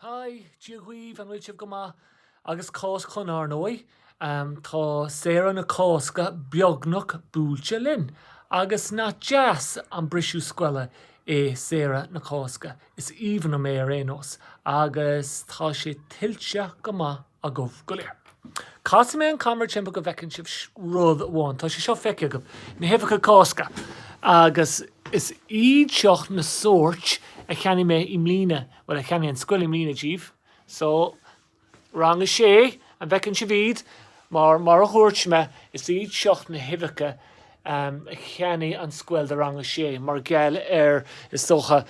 Haigh, Dia dhaoibh, an bhfuil sibh go maith? Agus cás Chon Ár ndóigh, tá saoire na Cásca beagnach buailte linn, agus nach deas an briseadh scoile í saoire na Cásca, is aoibhinn liom é ar aon nós, agus tá sé tuillte go maith agaibh go léir. Casfaidh mé an camera timpeall go bhfeiceann sibh rud amháin. Tá sé seo feicthe agaibh, na huibheacha Cásca. Agus is iad seo na sóirt a cheannaigh mé i mbliana, bhuel a cheannaigh an scoil i mbliana díbh. So, rang a sé, an bhfeiceann sibh iad? Mar, mar a dúirt mé, is iad seo na huibheacha a cheannaigh an scoil do rang a sé mar gheall ar, is dócha,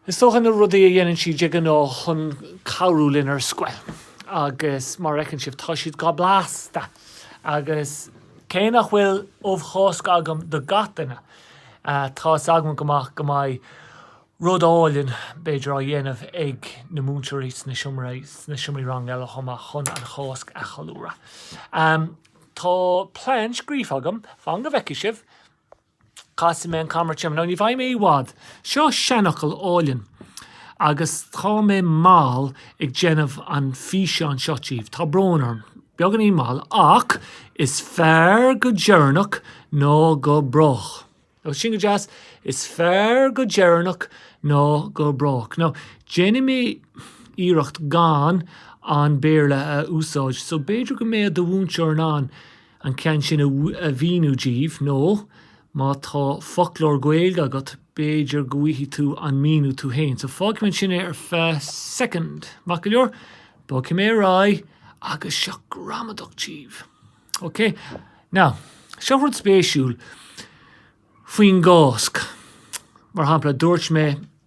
Is dócha na rudaí a dhéanann siad de ghnáth chun cabhrú linn ar scoil agus mar a fheiceann sibh tá siad go blasta agus cé nach bhfuil ubh Chásca agam do gach duine tá fhios agam go maith go mbeidh rud álainn b'fhéidir á dhéanamh ag na múinteoirí sna seomraí sna seomraí ranga eile chomh maith chun an Cháisc a cheiliúradh. Tá plean scríofa agam, fan go bhfeicfidh sibh! Casfaidh mé an camera timpeall. Now ní bheidh mé i bhfad. Seo seanfhocal álainn agus tá mé mall ag déanamh an físeán seo díbh. Tá brón orm. Beagáinín mall ach is fearr go deireanach ná go brách. Now sin go deas. Is fearr go deireanach ná go brách. Now déanfaidh mé iarracht gan an Béarla a úsáid so b'fhéidir go mbeidh do mhúinteoir in ann an ceann sin a mhíniú díbh nó má tá foclóir Gaeilge agat b'fhéidir go bhfaighfeá an míniú tú fhéin. So fágfaidh mé ansin é ar feadh soicind. Maith go leor, bogfaidh mé ar aghaidh agus seo gramadach díbh. Ok? Now, seo rud spéisiúil faoin gCáisc. Mar shampla, dúirt mé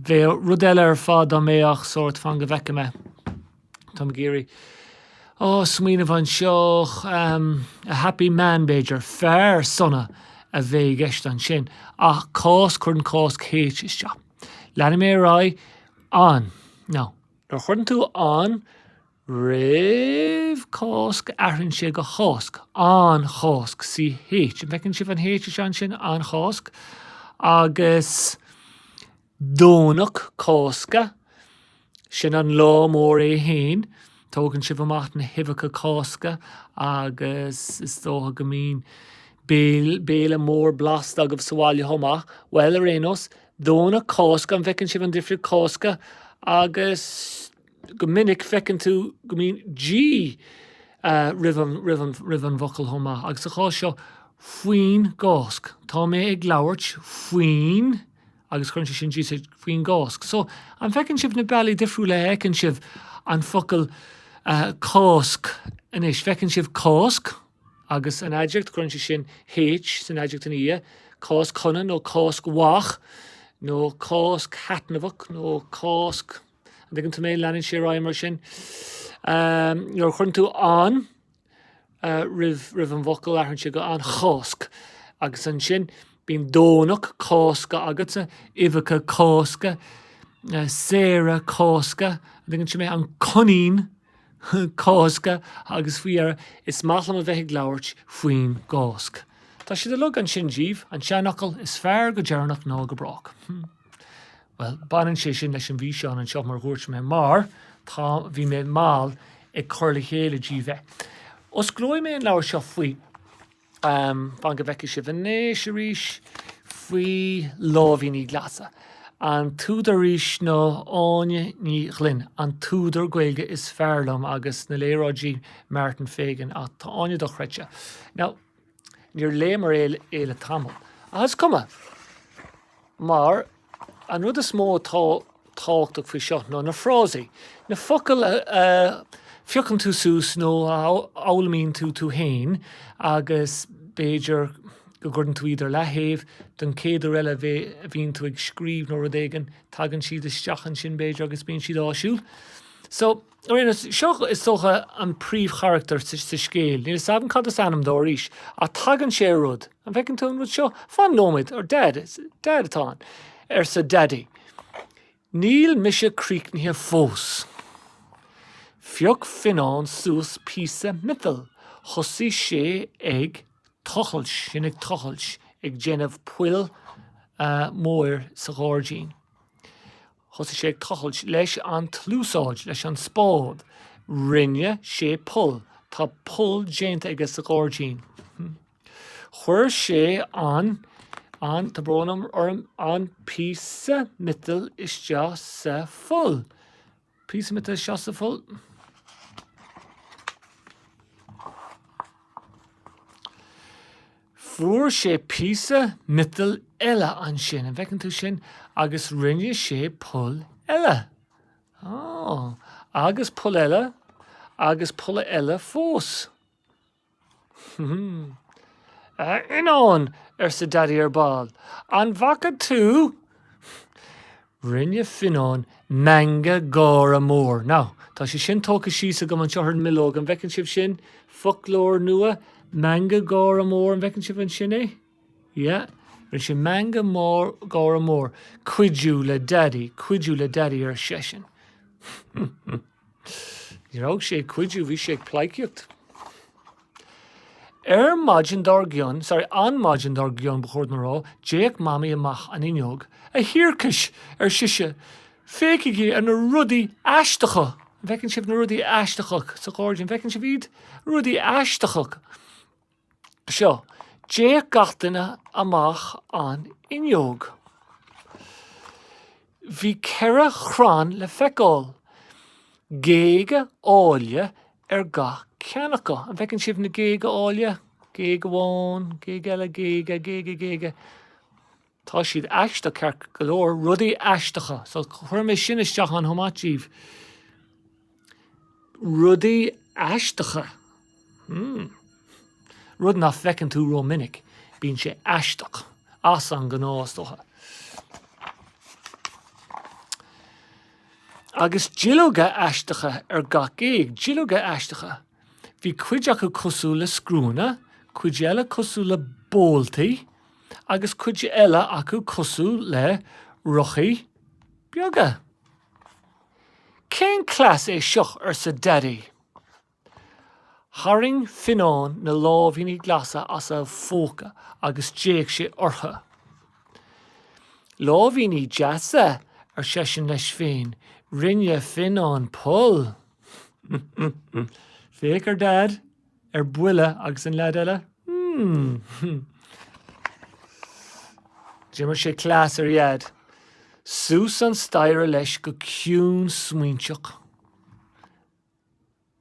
Bheadh rud eile ar fad dá mbeadh sórt fan go bhfeicfidh mé. Táim ag iarraidh. Ó, smaoineamh anseo. Ahem. A happy man, b'fhéidir. Fear sona a bheadh i gceist ansin. Ach Cáisc, cuireann Cáisc H isteach. Leanfaidh mé ar aghaidh. An. Now. Nuair a chuireann tú an Roimh Cáisc, athraíonn sé go Cháisc, an Cháisc, CH. An bhfeiceann sibh an H is ea ansin? An Cháisc. Agus Domhnach Cásca, sin an lá mór é fhéin. Tógann sibh amach na huibheacha Cásca agus is dócha go mbíonn béal- béile mór blasta agaibh sa bhaile chomh maith. Bhuel, ar aon nós, Domhnach Cásca, an bhfeiceann sibh an difríocht, Cásca agus Go minic, feiceann tú go mbíonn G roimh an bhfocal chomh maith, agus sa chás seo, faoin gCáisc. Tá mé ag labhairt faoin. agus cuireann sé sin G faoin gCáisc. So, an bhfeiceann sibh na bealaí difriúla a fheiceann sibh an focal Cáisc anois? Feiceann sibh Cáisc agus an aidiacht, cuireann sé sin H san aidiacht ina dhiaidh, Cáisc shona nó Cáisc mhaith, nó Cáisc thaitneamhach, nó Cáisc. An dtuigeann tú mé? Leanann sé ar aghaidh mar sin. Nuair a chuireann tú an roimh an bhfocal, athraíonn sé go an Cháisc. Agus ansin bíonn Domhnach Cásca agatsa, uibheacha Cásca, saoire Cásca, an dtuigeann tú mé? An Coinín Cásca agus faoi dheireadh, is maith liom a bheith ag labhairt faoin gCáisc. Tá siad uilig ansin díbh, an seanfhocal 'is fearr go deireanach ná go brách'. Bhuel, baineann sé sin leis an bhfíseán anseo, mar a dhúirt mé, mar tá, bhí mé mall ag cur le chéile díbh é. Osclóidh mé an leabhar seo faoi, fan go bhfeicfidh sibh anois arís, faoi Lámhainní Glasa. An t-údar arís ná Áine Ní Ghlinn, an t-údar Gaeilge is fearr liom, agus na léaráidí Martin Fagan, ach tá Áine dochreidte. Now. Níor léamar é le tamall, ach is cuma, mar an rud is mó atá tábhachtach faoi seo ná na frásaí, na focail a phiocann tú suas nó a fhoghlaimíonn tú tú féin agus b'fhéidir go gcuireann tú iad ar leaththaobh don chéad uair eile a bhíonn tú ag scríobh nó rud éigin, tagann siad isteach ansin b'fhéidir agus bíonn siad áisiúil. So. Seo, is dócha, an príomhcharachtar sa scéal, níl fhios agam cad is ainm dó arís, ach tagann sé ar rud, An bhfeiceann tú an rud seo? Fan nóiméad, ar Dad atá ann, arsa Daidí. Níl mise críochnaithe fós. Phioc Fionán suas píosa miotail, thosaigh sé ag tochailt, sin ag tochailt, ag déanamh poill móir sa ghairdín. Thosaigh sé ag tochailt leis an tsluasaid, leis an spád. Rinne sé poll. Tá poll déanta aige sa ghairdín. Chuir sé an, an, tá brón orm, an píosa miotail isteach sa pholl. Píosa miotail isteach sa pholl. Fuair sé píosa miotail eile ansin, an bhfeiceann tú sin, agus rinne sé poll eile. Ó, agus poll eile, agus poll eile fós. A Fhionnáin, arsa Daidí ar ball, an bhfaca tú Rinne Fionnán meangadh gáire mór. Now, tá sé sin tógtha síos agam anseo ar an mbileog, an bhfeiceann sibh sin? Foclóir nua, meangadh gáire mór, an bhfeiceann sibh ansin é? Yeah. Rinne sé meangadh gáire mór. Cuidiú le Daidí, cuidiú le Daidí, ar seisean. Ní raibh sé ag cuidiú, bhí sé ag pleidhcíocht. Ar maidin dár gcionn, sorry, an mhaidin dár gcionn ba chóir dom a rá, d'fhéach Mamaí amach an fhuinneog. 'A Thiarcais! ar sise. 'Féachaigí ar na rudaí aisteacha! An bhfeiceann sibh na rudaí aisteacha sa ghairdín? An bhfeiceann sibh iad? Rudaí aisteacha! seo, d'fhéach gach duine amach an fhuinneog. Bhí ceithre chrann le feiceáil, géaga áille ar gach ceann acu. An bhfeiceann sibh na géaga áille? Géag amháin, géag eile, géaga, géaga, géaga. Tá siad aisteach ceart go leor, rudaí aisteacha, so chuir mé sin isteach ann chomh maith díbh. Rudaí aisteacha. Hmm. Rud nach bhfeiceann tú rómhinic, bíonn sé aisteach, as an ngnáth is dócha. Agus duilleoga aisteacha ar gach géag, duilleoga aisteacha. Bhí cuid acu cosúil le scriúnna, cuid eile cosúil le boltaí agus cuid eile acu cosúil le rothaí beaga. Cén cleas é seo? arsa Daidí. Tharraing Fionnán na lámhainní glasa as a phóca agus d'fhéach sé orthu. Lámhainní deasa, ar seisean leis féin. Rinne Fionnán poll. Féach ar Dad, ar buile, agus an leaid eile. D'imir sé cleas ar Dheaid. Suas an staighre leis go ciúin smaointeach.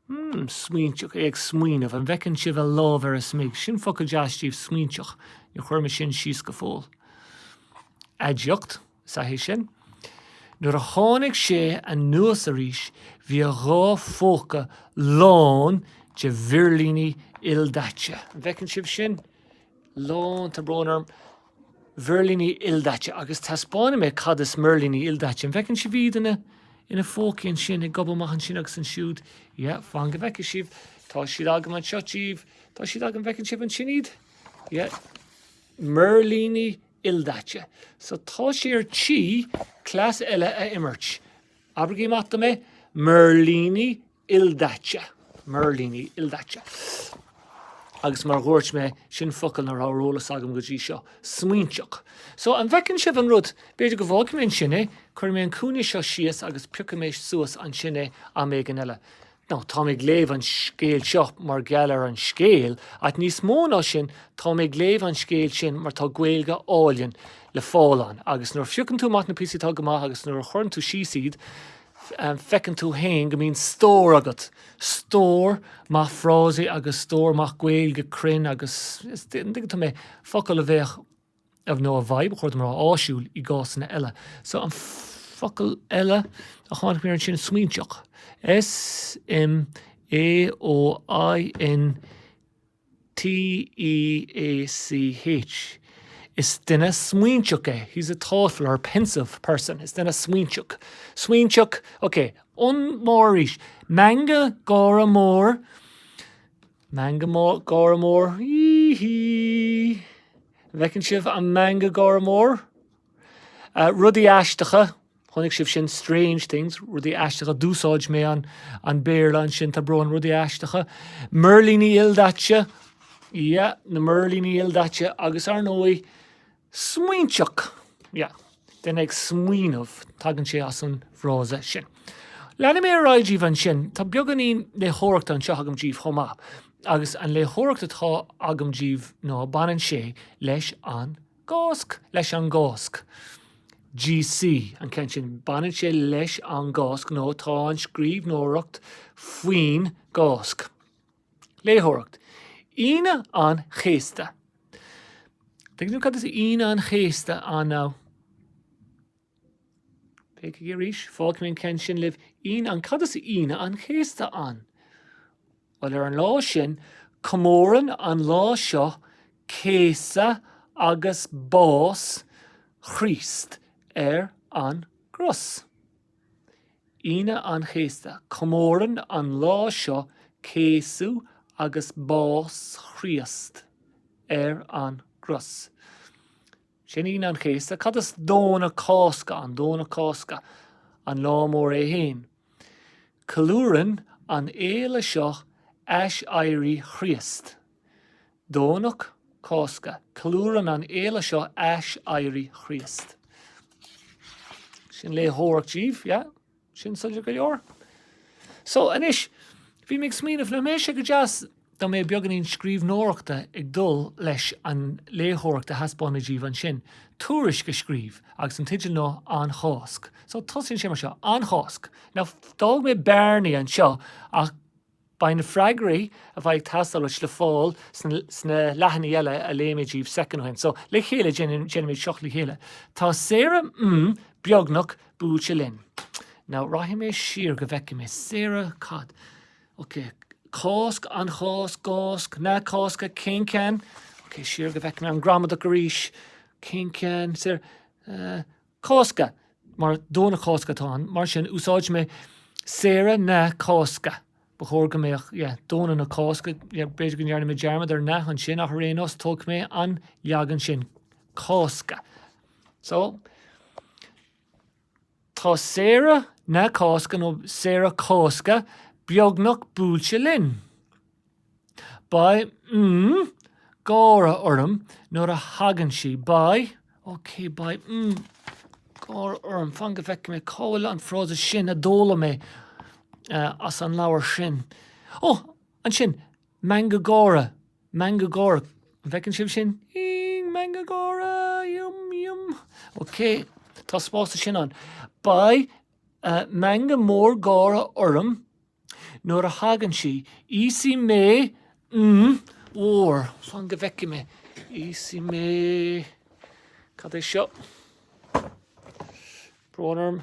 Hmm, smaointeach é ag smaoineamh, an bhfeiceann sibh a lámh ar a smig, sin focal deas díbh smaointeach, níor chuir mé sin síos go fóill. Aidiacht. Is ea é sin. Nuair a tháinig sé anuas arís bhí a dhá phóca lán de mhirlíní ildaite. An bhfeiceann sibh sin? Lán, tá brón orm, mhirlíní ildaite. Agus taispeánfaidh mé cad is mirlíní ildaite. An bhfeiceann sibh iad ina phócaí ansin, ag gobadh amach ansin agus ansiúd? Yeah, fan go bhfeicfidh sibh. Tá siad agam anseo díbh. Tá siad agam, bhfeiceann sibh ansin iad? Yeah. Mirlíní ildaite. So tá sé ar tí cleas eile a imirt. Abraigí amach dom é, mirlíní ildaite. Mirlíní ildaite. Agus mar a dúirt mé, sin focal ná raibh ar eolas agam go dtí seo. Smaointeach. So an bhfeiceann sibh an rud, b'fhéidir go bhfágfaidh mé ansin é, cuirfidh mé an cúinne seo síos agus piocfaidh mé suas ansin é am éigin eile. Now, táim ag léamh an scéal seo mar gheall ar an scéal, ach níos mó ná sin, táim ag léamh an scéal sin mar tá Gaeilge álainn le fáil ann, agus nuair a phiocann tú amach na píosaí atá go maith agus nuair a chuireann tú síos iad, feiceann tú fhéin go mbíonn stór agat, stór maith frásaí agus stór maith Gaeilge cruinn agus, an dtuigeann tú mé? focail a bheadh. ámh nó a bheadh, a chuirfinn mar, áisiúil i gcásanna eile. So an focal eile a tháinig mé ar ansin smaointeach. S m a o i n t e a c h Is duine smaointeach é. He's a thoughtful or pensive person. Is duine smaointeach. Smaointeach, okay. An-mhór arís. Meangadh gáire mór. Meangadh gáire mór, hí-hí! An bhfeiceann sibh an meangadh gáire mór? Rudaí aisteacha, chonaic sibh sin, strange things, rudaí aisteacha, d'úsáid mé an Béarla ansin, tá brón orm, rudaí aisteacha. Mirlíní ildaite, yeah, na mirlíní ildaite, agus ar ndóigh, Smaointeach, yeah. Duine ag smaoineamh, tagann sé as an bhfrása sin. Leanfaidh mé ar aghaidh díbh ansin. Tá beagáinín léitheoireachta anseo agam díbh chomh maith. Agus an léitheoireacht atá agam díbh ná baineann sé leis an gCásc, leis an gCásc. GC, an ceann sin, baineann sé leis an gCásc nó tá an scríbhneoireacht faoin gCásc. Léitheoireacht, Aoine an Chéasta. An dtuigeann sibh cad is Aoine an Chéasta ann now? Féachaigí arís, fágfaidh mé an ceann sin libh. Aoine an Cad is Aoine an Chéasta ann? Bhuel, ar an lá sin, comórann an lá seo céasadh agus bás Chríost ar an gcros. Aoine an Chéasta, comórann an lá seo céasadh agus bás Chríost ar an gcros. Sin Aoine an Chéasta. Cad is Domhnach Cásca ann? Domhnach Cásca, an lá mór é fhéin. Ceiliúrann an fhéile seo aiséirí Chríost. Domhnach Cásca, ceiliúrann an fhéile seo aiséirí Chríost. Sin léitheoireacht díbh, yeah? Sin soiléir go leor? So, anois, bhí mé ag smaoineamh, nach mbeadh sé go deas dá mbeadh beagáinín scríbhneoireachta ag dul leis an léitheoireacht a thaispeánadh díbh ansin, tuairisc a scríobh, agus an teideal ná An Cháisc. So, tosaíonn sé mar seo, An Cháisc. Now, d'fhág mé bearnaí anseo ach. Beidh na freagraí a bheidh ag teastáil uait le fáil sna leathanaigh eile a léigh mé díbh soicind ó shin. So, le chéile, déanfaimid seo le chéile. Tá saoire mm beagnach buailte linn. Now, rachaidh mé siar go bhfeicfidh mé. Saoire, cad. Ok, Cásc, an Chásc, gcásc, na Cásca, cén ceann? Ok, siar go bhfeicfidh mé an ghramadach arís. Cén ceann? Saoire, eh. Cásca, mar Domhnach Cásca atá ann, mar sin úsáidfidh mé Saoire na Cásca. Ba chóir go mbeadh yeah Domhnach na Cásca yeah b'fhéidir go ndearna mé dearmad ar na ansin ach ar aon nós tógfaidh mé an leagan sin Cásca. So Tá Saoire na Cásca nó Saoire Cásca beagnach buailte linn. Beidh, mm, gáire orm nuair a thagann sí. Beidh, ok, beidh, mm, gáire orm. Fan go bhfeicfidh mé cá bhfuil an frása sin a d'fhoghlaim mé as an leabhar sin. Ó, ansin, meangadh gáire, meangadh gáire. An bhfeiceann sibh sin? Ing, meangadh gáire, yum, yum. Ok, tá spás ansin ann. Beidh, uh, meangadh mór gáire orm Nuair a thagann sí, íosfaidh mé mm mhór. Fan go bhfeicfidh mé. Íosfaidh mé. Cad é seo? Brón orm.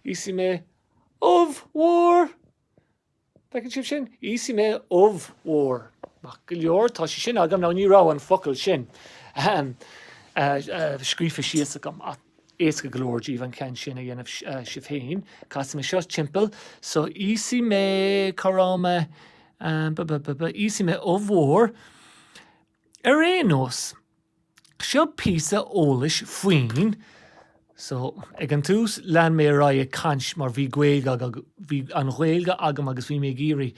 Íosfaidh mé ubh mhór. Bhfeiceann sibh sin? Íosfaidh mé ubh mhór. Maith go leor, tá sé sin agam. Now, ní raibh an focal sin scríofa síos agam ach. éasca go leor díbh an ceann sin a dhéanamh sibh féin. Casfaidh mé seo timpeall so íosfaidh mé, cá raibh mé, ba, ba, ba, ba, íosfaidh mé ubh mhór. Ar aon nós, seo píosa eolais faoin, so, ag an tús lean mé ar aghaidh ag caint mar bhí Gaeilge agam, bhí an Ghaeilge agam agus bhí mé ag iarraidh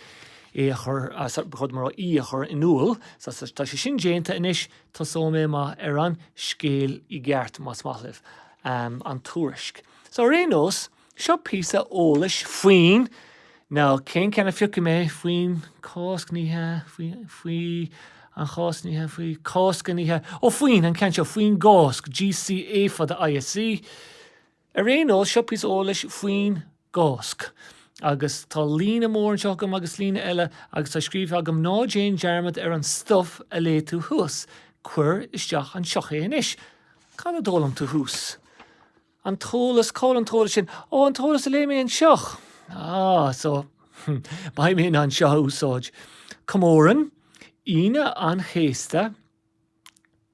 í a chur, so, ba chóir dom a rá í a chur in iúl, so, tá sé sin déanta anois, Tosóidh mé amach ar an scéal i gceart, más maith libh, an tuairisc. So, ar aon nós, seo píosa eolais faoin, nó cén ceann a phiocfaidh mé, faoin Cásc, ní hea, faoi, faoi an Chásc, ní hea, faoi, Cásca, ní hea, ó, faoin, an ceann seo, faoin gCásc, G C Á fada I S C. Ar aon nós, seo píosa eolais faoin gCáisc. Agus tá líne mór anseo agam agus líne eile agus tá scríofa agam, Ná déan dearmad ar an stuif a léigh tú thuas. Cuir isteach anseo é anois. Cad a d'fhoghlaim tú thuas? An t-eolas, cá bhfuil an t-eolas sin? Ó, an t-eolas a léigh mé anseo! Ah, so, beidh mé in ann é seo a úsáid. Comórann Aoine an Chéasta.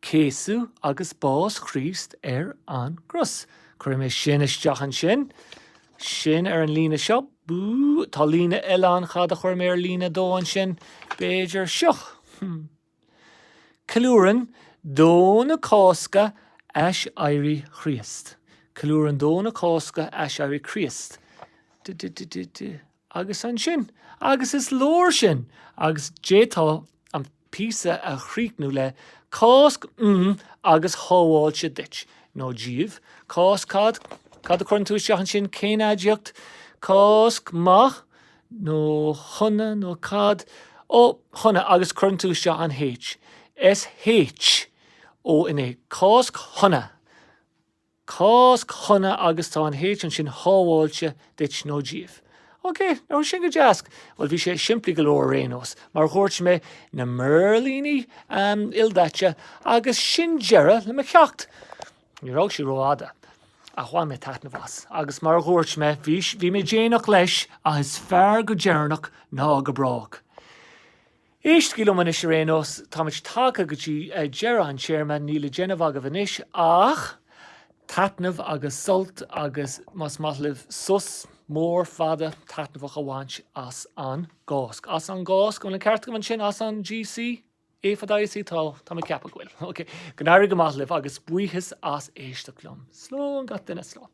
céasadh agus bás Chríost ar an gcros. Cuirfidh mé sin isteach ansin. Sin ar an líne seo. Tá líne eile ann, cad a chuir mé ar líne a dó ansin, b'fhéidir seo. Ceiliúrann Domhnach Cásca aiséirí Chríost. Ceiliúrann Domhnach Cásca aiséirí Chríost. duh duh duh duh duh. agus ansin, agus is leor sin, agus d'fhéadfá an píosa a chríochnú le, Cáisc um agus shábháilte duit, nó daoibh, Cáisc cad, cad a chuireann tú isteach ansin, cén aidiacht, Cáisc maith, nó shona, nó cad, ó, shona, agus cuireann tú isteach an H, SH, O N A, Cáisc shona. Cáisc shona agus tá an H ansin shábháilte duit nó daoibh. OK, nach bhfuil sin go deas. Bhuel, bhí sé simplí go leor ar aon nós, mar dhúirt mé, na mirlíní, ahem, ildaite, agus sin deireadh le mo cheacht. Ní raibh sé rófhada, ach bhain mé taitneamh as, agus mar dhúirt mé, bhí, bhí mé déanach leis, ach is fearr go deireanach ná go brách. Éistigí liom anois ar aon nós, táimid tagtha go dtí deireadh an téarma, níl le déanamh agaibh anois ach taitneamh agus sult agus más maith libh sos mór fada taitneamhach a bhaint as an gCáisc. As an gCáisc, an bhfuil an ceart agam ansin? As an g C A fada I S C? Tá, tá mé ag ceapadh go bhfuil. Ok, go n-éirí go maith libh agus buíochas as éisteacht liom. Slán gach duine, slán.